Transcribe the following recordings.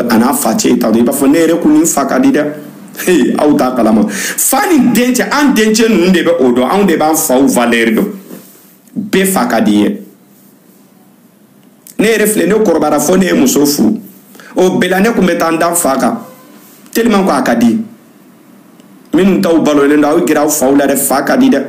a n'a facɛ ta i b'a fɔ ne yɛrɛ kun ni fa ka di dɛ hey aw t'a kalama fa ni dencɛ an dencɛ ninnu de bɛ o dɔn anw de b'an faw valeur dɔn bɛɛ fa ka d'i ye ne yɛrɛ filɛ ne kɔrɔbayara fo ne ye muso furu o bɛɛ la ne tun bɛ taa n da n fa kan tellement ko a ka di minnu taw balolen don aw gɛrɛ aw faw la dɛ fa ka di dɛ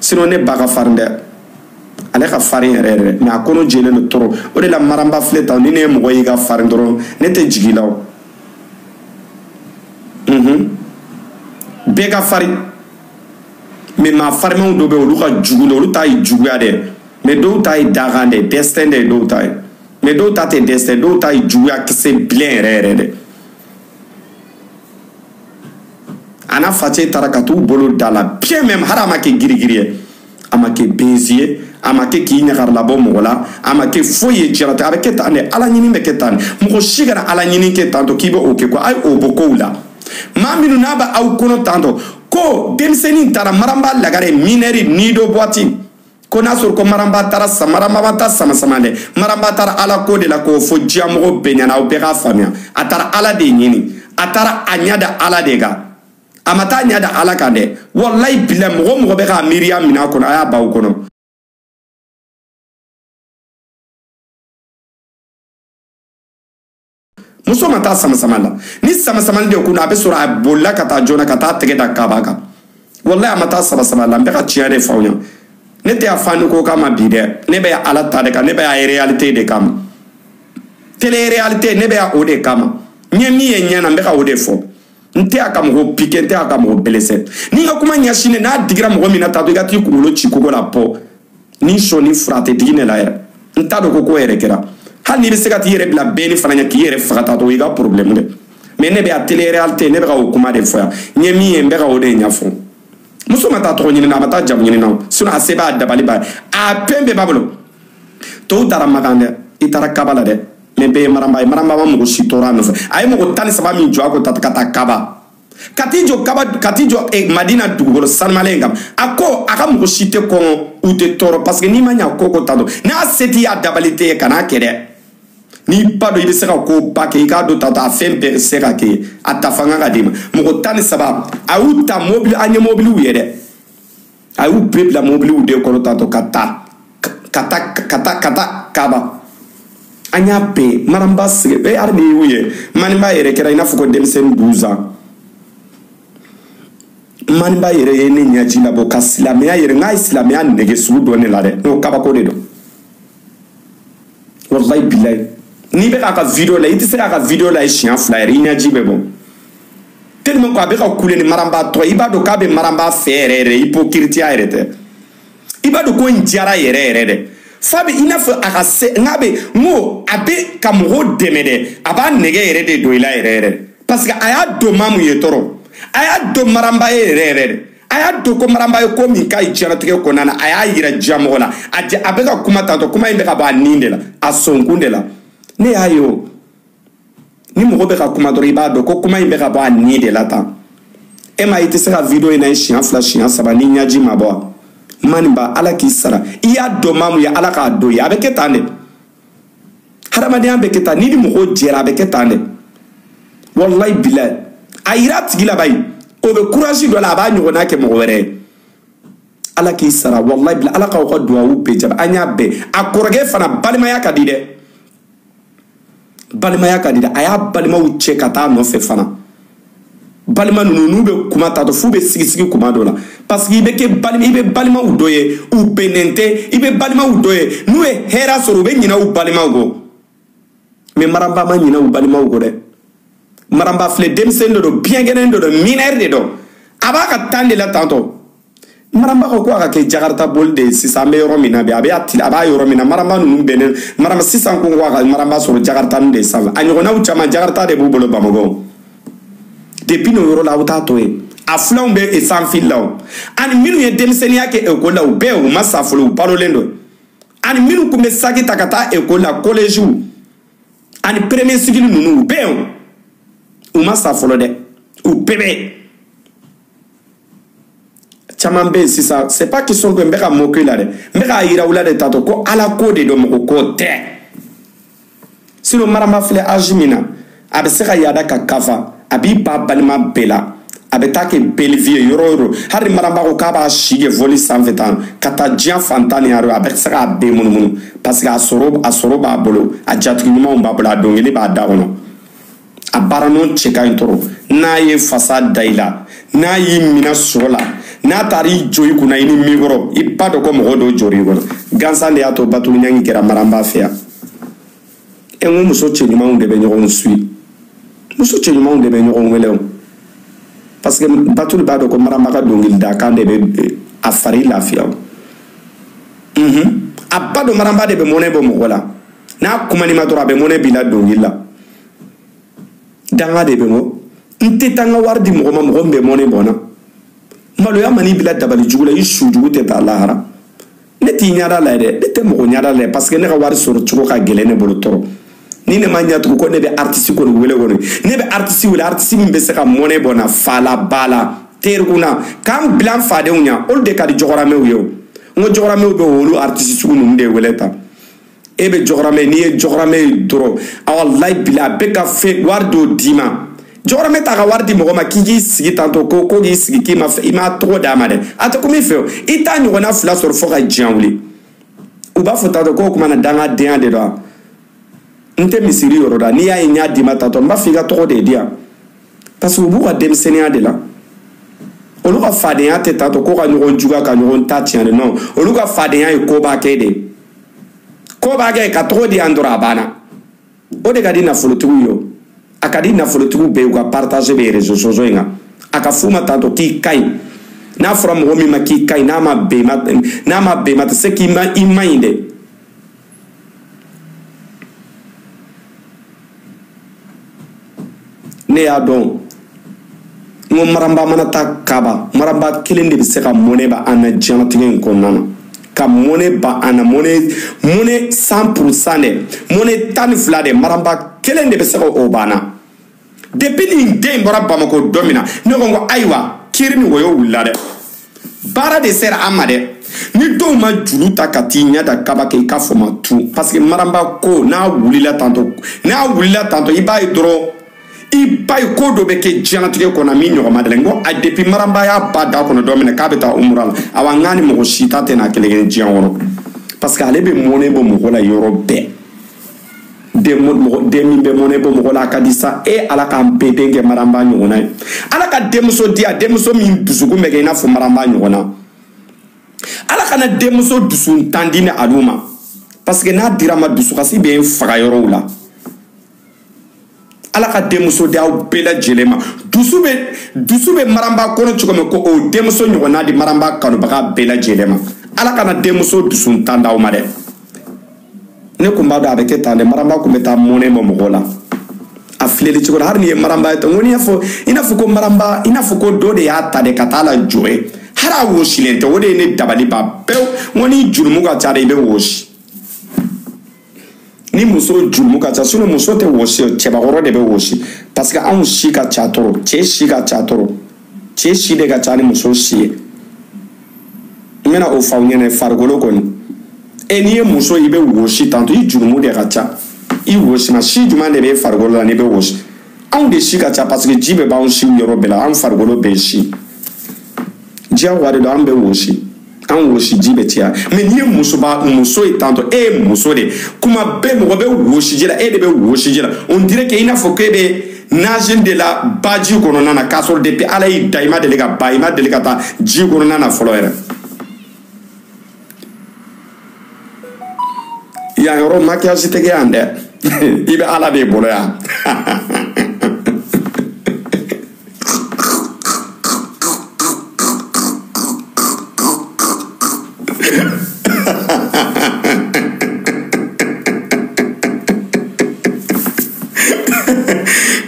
sinon ne ba ka farin dɛ ale ka farin yɛrɛ yɛrɛ mais a kɔnɔ jɛlen don trop o de la maranba filɛ tan ni ne ye mɔgɔ y'i ka farin dɔrɔn ne tɛ jigi la o mhm. bɛɛ ka farin mais maa farimanw dɔ bɛ olu ka jugu dɛ olu ta ye juguya dɛ mais dɔw ta ye dakan dɛ destin dɛ dɔw ta ye mais dɔw ta tɛ destin dɔw ta ye juguya kisɛ bilen yɛrɛ yɛrɛ dɛ a n'a facɛ taara ka t'u bolo da la bien même hali a ma kɛ girigiri ye a ma kɛ benzi ye a ma kɛ k'i ɲagari labɔ mɔgɔ la a ma kɛ foyi ye diɲɛlatigɛ a bɛ kɛ tan de ala ɲini bɛ kɛ tan de mɔgɔ si kana ala ɲini kɛ tan tɔ k'i bɛ o kɛ ko a ye o bɔ kow la maa minnu n'a bɛ aw kɔnɔ tan tɔ ko denmisɛnnin taara maranba lagare minɛri nido boîte ko n'a sɔrɔ ko maranba taara maranba ma taa samasama dɛ maranba taara ala ko de la k'o fɔ diɲɛmɔgɔ bɛɛ ɲɛna aw bɛɛ k'a faamuya a taara ala de ɲini a taara a ɲɛ da ala de kan a ma taa ɲɛ da ala kan dɛ walayi bila mɔgɔ mɔgɔ bɛ k'a miiriya minɛ a kɔnɔ a y'a bɔ aw kɔnɔ muso ma taa samasama la ni samasama de tun don a bɛ sɔrɔ a bolila ka taa joona ka taa tɛgɛ da kaba kan walayi a ma taa samasama la n bɛ ka tiɲɛ de fɔ aw ɲɛna ne tɛ yan fa ni ko kama bi dɛ ne bɛ yan ala ta de kan ne bɛ yan réalité de kama télé réalité ne bɛ yan o de kama n ye min ye ɲɛ na n bɛ ka o de fɔ n tɛ yan ka mɔgɔ piqué n tɛ yan ka mɔgɔ blessé ni n ka kuma ɲɛsinnen n'a digira mɔgɔ min na tatɔ i ka t'i kunkolo ci kogo la pɔ ni sɔ ni fura tɛ digi ne la yɛrɛ n t'a dɔn ko ko yɛrɛ kɛra hali n'i bɛ se ka t'i yɛrɛ bila bɛni fana ɲɛ k'i yɛrɛ faga tatɔ i ka problème dɛ mais ne bɛ yan télé réalité ne bɛ ka o kuma de fɔ yan n ye min ye n bɛ ka o de ɲɛfɔ muso ma taa tɔgɔ ɲini na a ma taa jamu ɲini na o sinon a se b'a dabali b'a ye a fɛn bɛɛ b'a bolo tɔw taara makan dɛ i taara kaba la dɛ mais bɛɛ ye maranba ye maranba ma mɔgɔ si tɔɔrɔ a nɔfɛ a ye mɔgɔ tan ni saba min jɔ a ko tata ka taa kaba ka t'i jɔ kaba ka t'i jɔ eh, madina dugukolo sanumalen in kan a ko a ka mɔgɔ si tɛ kɔngɔ u tɛ tɔɔrɔ parce que n'i ma ɲa ko ko ta dɔn n'a se t'i y'a dabali t'i ye kan'a kɛ dɛ n'i b'a dɔn i bɛ se ka ko ba kɛ i k'a dɔn tatɔ a fɛn bɛɛ se ka kɛ a ta fanga ka d'i ma mɔgɔ tan ni saba a y'u ta mobili an ye mobiliw ye dɛ a y'u bɛɛ bila mobiliw de kɔnɔ tantɔ ka taa ka taa ka taa ka taa kaba an y'a bɛɛ maranba sigi e hali n'i y'u ye maninba yɛrɛ kɛra i n'a fɔ ko denmisɛnnin douze ans maninba yɛrɛ ye ne ɲɛji labɔ ka silamɛya yɛrɛ n k'a ye silamɛya nege sugu don ne la dɛ n'o kabako de don wallahi bilayi n'i bɛ k'a ka video lajɛ i tɛ se k'a ka video lajɛ siɲɛ fila yɛrɛ i ɲɛji bɛ bɔ tellement ko a bɛ ka kule ni maranba tɔ i b'a dɔn k'a bɛ maranba fɛ yɛrɛ yɛrɛ ipokiritiya yɛrɛ tɛ i b'a dɔn ko n diyara yɛrɛ yɛrɛ dɛ f'a bɛ i n'a fɔ a ka se n'a bɛ n ko a bɛ ka mɔgɔw dɛmɛ dɛ a b'a nege yɛrɛ de don i la yɛrɛ yɛrɛ parce que a y'a dɔn maa mun ye tɔɔrɔ a y'a dɔn maranba ye yɛrɛ yɛrɛ de a y'a dɔn ko maranba ye ko min k'a ye diɲɛnatigɛ kɔnɔna na a y'a yira diɲɛ mɔgɔ la a jɛ a bɛ ka kuma tantɔ kuma in bɛ ka bɔ a nin de la a sɔnkun de la ne y'a ye o ni mɔgɔ bɛ ka kuma dɔrɔn i b'a dɔn ko kuma in bɛ ka bɔ a nin de la tan e ma i tɛ se ka video in lajɛ siɲɛ fila siɲɛ saba n'i ɲɛji ma bɔ wa maninba ala k'i sara i y'a dɔn maa mun ye ala k'a dɔn ye a bɛ kɛ tan de hadamadenya bɛ kɛ tan n'i ni mɔgɔw jɛra a bɛ kɛ tan dɛ walayi bilayi a yira a tigi la bayi o bɛ kurasi don a la a b'a ɲɔgɔnna kɛ mɔgɔ wɛrɛ ye ala k'i sara walayi bilayi ala k'aw ka duwawu bɛɛ jaabi an y'a bɛɛ a kɔrɔkɛ fana balimaya ka di dɛ balimaya ka di dɛ a y'a balimaw cɛ ka taa nɔfɛ fana balima ninnu n'u bɛ kuma tantɔ f'u bɛ sigisigi kuma dɔ la parce que i bɛ kɛ balima i bɛ balimaw dɔ ye u bɛnnen tɛ i bɛ balimaw dɔ ye n'u ye hɛrɛ sɔrɔ u bɛ ɲinɛ u balimaw kɔ mais maranba ma ɲinɛ u balimaw kɔ dɛ maranba filɛ denmisɛnnin dɔ don biɲɛkɛnɛ dɔ don minɛri de don a b'a ka tan de la tantɔ maranba ka kan ka kɛ jakarita boli de ye sisan an bɛ yɔrɔ min na bi a bɛ a b'a yɔrɔ min na maranba ninnu bɛnnen maranba sisan ko ko a ka maranba sɔrɔ jakarita ninnu de sanfɛ a ɲɔgɔnnaw caman jakarita de b'u bolo bamakɔ depuis n'o yɔrɔ la aw t'a to yen a filanw bɛ e sanfili la o ani minnu ye denmisɛnninya kɛ ekɔli la u bɛɛ u ma sa fɔlɔ u balolen don ani minnu tun bɛ saki ta ka taa ekɔli la kɔlɛziw ani premier cycle ninnu u bɛɛ u ma sa fɔlɔ dɛ u bɛɛ bɛ caman bɛ yen sisan c'est pas qu'ils sont que n bɛ ka moquer la dɛ n bɛ k'a yira u la de tantɔ ko ala ko de don mɔgɔ ko tɛ sinon maranba filɛ âge min na a bɛ se ka yaada ka kafa a b'i ban balima bɛɛ la a bɛ taa kɛ belle vie yɔrɔ yɔrɔ hali maranba ko k'a b'a si kɛ vɔli sanfɛ tan ka taa diɲɛ fan tan ni wɔɔrɔ a bɛ se k'a bɛɛ munumunu parce que a sɔrɔ a sɔrɔ b'a bolo a jatigi ɲumanw b'a bolo a dɔnkili b'a da kɔnɔ a baara nɔ cɛ ka ɲi trop n'a ye fasa da i la n'a y'i minɛ sɔrɔ la n'a taara i jɔ i kunna i ni micro i b'a dɔn ko mɔgɔ dɔw jɔrɔ i kɔnɔ gansan de y'a to batulu ɲangi kɛra maranba fɛ yan e ko muso cɛɲumanw de bɛ ɲɔgɔn suyi muso cɛɲumanw de bɛ ɲɔgɔn wele o parce que batulu b'a dɔn ko maranba ka dɔnkili da kan de bɛ a fari lafiya o a b'a dɔn maranba de bɛ mɔnɛ bɔ mɔgɔ la n'a kumana i ma dɔrɔn a bɛ mɔnɛ b'i la dɔnkili la dangaden bɛ mɔ n tɛ taa n ka wari di mɔgɔ ma mɔgɔ min bɛ mɔnɛ bɔ n na maloya man'i bila dabali jugu la i su jugu tɛ taa lahara ne t'i ɲɛda la dɛ ne tɛ mɔgɔ ɲɛda la parce que ne ka wari sɔrɔ cogo ka gɛlɛn ne bolo trop ni ne ma ɲɛ tugun ko ne bɛ aritisi kɔni wele kɔni ne bɛ aritisi wele aritisi min bɛ se ka mɔnɛ bɔ n na fa la ba la terikun na ka n bila n fadenw ɲɛ olu de ka di jɔgɔramɛw ye o n ko jɔgɔramɛw bɛ olu aritisi sugu ninnu de wele tan e bɛ jɔgɔramɛ n'i ye jɔgɔramɛ ye dɔrɔn walayi bila a bɛ ka fɛn wari dɔw d'i ma jɔgɔramɛ t'a ka wari di mɔgɔ ma k'i k'i sigi tantɔ ko ko k'i sigi k'i ma i m'a tɔgɔ d'a ma dɛ a tɛ komi fɛ o i t'a ɲɔgɔnna fila sɔrɔ fo ka diɲɛ wuli u b'a fɔ tantɔ k'o kuma na dangadenya de don n tɛ misiri yɔrɔ da n'i y'a ye n y'a d'i ma tantɔ n b'a fɔ i ka tɔgɔ de diya parce que u b'u ka denmisɛnninya de la olu ka fadenya tɛ tantɔ ko ka ɲɔgɔn juguya ka ɲɔgɔn ta tiɲɛ de non olu ka fadenya ye koba kɛ de koba kɛ ka tɔgɔ diya dɔrɔn a banna o de ka di nafolotigiw ye o a ka di nafolotigiw bɛɛ u ka partage bɛ réseaux sociaux in kan a ka f'u ma tantɔ k'i ka ɲi n'a fɔra mɔgɔ min ma k'i ka ɲi n'a ma bɛn maa tɛ se k'i ma i man ɲi dɛ ne y'a dɔn n ko maranba mana taa kaba maranba kelen de bɛ se ka mɔnɛ bɔ an na diɲɛlatigɛ in kɔnɔna na ka mɔnɛ bɔ an na mɔnɛ cent pour cent dɛ mɔnɛ tan ni fila dɛ maranba kelen de bɛ se ka o bɔ an na depuis nin den bɔra bamakɔ don min na ne ko n ko ayiwa kiri ni wɔyɔ wulila dɛ baara de sera an ma dɛ ni dɔw ma juru ta ka t'i ɲɛ da kaba kɛ i k'a fɔ ma tun parce que maranba ko n'a wulila tantɔ n'a wulila tantɔ i b'a ye dɔrɔn i b'a ye ko dɔ bɛ kɛ diɲɛlatigɛ kɔnɔ min ɲɔgɔn ma deli n ko a depuis maranba y'a b'a da kɔnɔ don min na k'a bɛ taa umura la awa n k'a ni mɔgɔ si ta tɛna kelen kɛ diɲɛ kɔnɔ parce que ale bɛ mɔnɛ bɔ mɔgɔ la yɔrɔ bɛɛ den min bɛ mɔnɛ bɔ mɔgɔ la a ka di sa e ala k'an bɛɛ den kɛ maranba ɲɔgɔnna ye ala ka denmuso di a denmuso min dusukun bɛ kɛ i n'a fɔ maranba ɲɔgɔnna ala kana denmuso dusuntan di ni alu ma parce que n'a dira ma dusukasi bɛ faga yɔrɔw la ala ka denmuso di aw bɛɛ lajɛlen ma dusu bɛ dusu bɛ maranba kɔnɔ cogo min ko o denmuso ɲɔgɔnna di maranba kanubaga bɛɛ lajɛlen ma ala kana denmuso dusuntan d'aw ma dɛ ne kun b'a dɔn a bɛ kɛ tan dɛ maranba kun bɛ taa mɔnɛ ma mɔgɔ la a filɛli cogo la hali n'i ye maranba ye tɔ n ko n'i y'a fɔ i n'a fɔ ko maranba i n'a fɔ ko dɔ de y'a ta de ka taa lajɔ yen hali a wosilen tɛ o de ye ne dabali ban pewu n ko n'i jurumu ka ca de i bɛ wosi ni muso jurumu ka ca sinon muso tɛ wɔsi cɛbakɔrɔ de bɛ wɔsi parce que anw si ka ca trop cɛ si ka ca trop cɛ si de ka ca ni muso si ye n bɛna o fɔ aw ɲɛna farikolo kɔni e n'i ye muso i bɛ wɔsi tanto i jurumu de ka ca i wɔsi ma si jumɛn de bɛ farikolo la n'i bɛ wɔsi anw de si ka ca parce que ji bɛ b'anw siw yɔrɔ bɛɛ la anw farikolo bɛɛ si diyagoya de don an bɛ wɔsi an wɔsiji bɛ caya mais n'i ye musoba muso ye tantɔ e ye muso de kuma bɛɛ mɔgɔ bɛ wɔsiji la e de bɛ wɔsiji la on dirait que i n'a fɔ k'e bɛ nager de la baji kɔnɔna na k'a sɔrɔ depuis ala y'i da i ma deli ka ba i ma deli ka taa ji kɔnɔna na fɔlɔ yɛrɛ yan yɔrɔ makiyasi tɛ kɛ yan dɛ i bɛ ala de bolo yan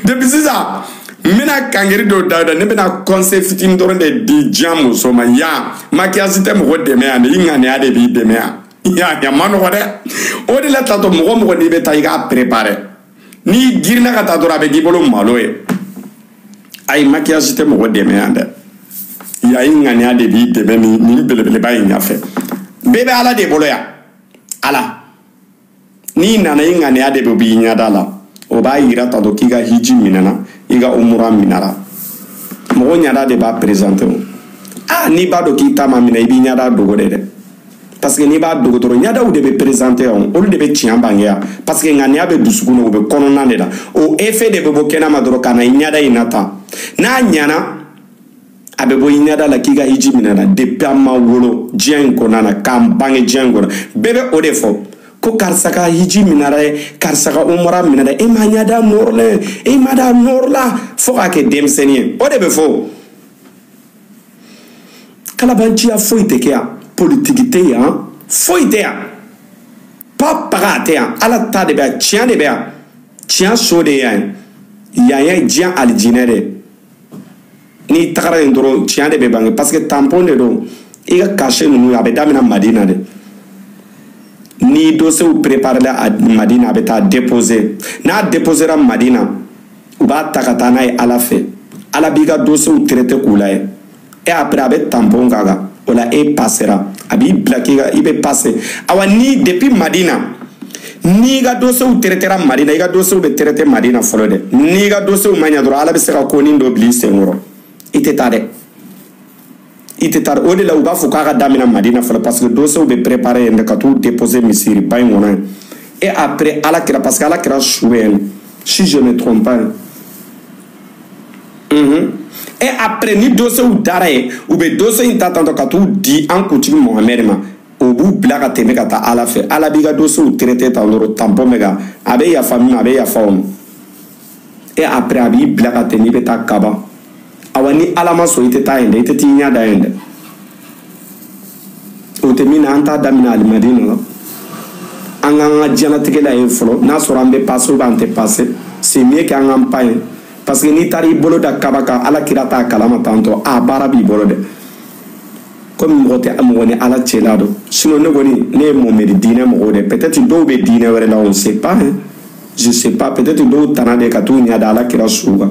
depuis sisan n bɛna kankari dɔw d'aw da ne bɛna kɔnse fitini dɔrɔn de di diɲɛ muso ma yan makiyasi tɛ mɔgɔ dɛmɛ yan dɛ i ŋaniya de b'i dɛmɛ yan yan man nɔgɔn dɛ o de la taatɔ mɔgɔ mɔgɔ n'i bɛ taa i k'a perepare n'i girinna ka taa dɔrɔn a bɛ k'i bolo malo ye ayi makiyasi tɛ mɔgɔ dɛmɛ yan dɛ yan i ŋaniya de b'i dɛmɛ nin belebeleba in ɲɛfɛ bɛɛ bɛ ala de bolo yan ala n'i nana i ŋaniya de bɛ b'i ɲɛda la o b'a yira ta dɔ k'i ka hiji minɛna i ka umura minɛra mɔgɔ ɲɛda de b'a perezante o aa n'i b'a dɔn k'i ta ma minɛ i b'i ɲɛda dogo de dɛ parce que n'i b'a dogo dɔrɔn ɲadaw de bɛ perezante yan olu de bɛ tiɲɛ bange yan parce que ŋaniya bɛ dusukun na o bɛ kɔnɔna de la o efe de bɛ bɔ kɛnɛ ma dɔrɔn ka na i ɲada in na tan n'a ɲana a bɛ bɔ i ɲada la k'i ka hiji minɛna depuis an ma wolo diɲɛ in kɔnɔna na k'an bange diɲɛ in kɔnɔ bɛɛ bɛ o de fɔ ko karisa ka hiji minɛra dɛ karisa ka umura minɛra dɛ e ma ɲada nɔrɔlen e ma da nɔrɔla fo k'a kɛ denmisɛnnin ye o de bɛ fɔ kalabanciya foyi tɛ kɛ yan politiki tɛ yan foyi tɛ yan pa paga a tɛ yan ala ta de bɛ yan tiɲɛ de bɛ yan tiɲɛ so de ye yan ye yan ye diɲɛ alijinɛ de ye n'i tagara yen dɔrɔn tiɲɛ de bɛ bange parce que tampon de don i ka cachet ninnu a bɛ daminɛ madina de ni dosew préparela madina a bɛ taa déposer n'a déposera madina u b'a ta ka taa n'a ye ala fɛ ala b'i ka dosew traite k'u lajɛ et après a bɛ tampon k'a kan o la e pasera a b'i bila k'i ka i bɛ pase awa ni depuis madina n'i ka dosew traitera madina i ka dosew bɛ traite madina fɔlɔ dɛ n'i ka dosew ma ɲa dɔrɔn ala bɛ se ka konin dɔ bila i senkɔrɔ i tɛ taa dɛ i tɛ taa o de la u b'a fɔ k'a ka daminɛ madina fɔlɔ parce que dosew bɛ préparer yen de ka t'u déposer misiri ba in kɔnɔ yen et après ala kira parce que ala kira su bɛ yen si je ne trompe pas mhm et après ni dosew dara yen u bɛ dose in ta tantɔ ka t'u di an kuntigi mohamɛd ma o b'u bila ka tɛmɛ ka taa ala fɛ ala b'i ka dosew traiter tan dɔrɔn tampon bɛ kɛ a bɛ yafa min ma a bɛ yafa o ma. et après a b'i bila ka tɛmɛn i bɛ taa kaba awa ni ala ma sɔn i tɛ taa yen dɛ i tɛ t'i ɲɛ da yen dɛ o tɛ min na an t'a daminɛ alimadina la an k'an ka diɲɛlatigɛ lajɛ fɔlɔ n'a sɔrɔ an bɛ pase ou bien an tɛ pase c'est mieux k'an k'an pan yen parce que n'i taara i bolo da kaba kan ala kira t'a kalama tantɔ a baara b'i bolo dɛ komi mɔgɔ tɛ mɔgɔ ni ala cɛla dɔn sinon ne kɔni ne ye mohamɛd diinɛ mɔgɔw dɛ peut-être dɔw bɛ diinɛ wɛrɛ la on sait pas je sais pas peut-être dɔw tana de ka t'u ɲɛ da ala kira su kan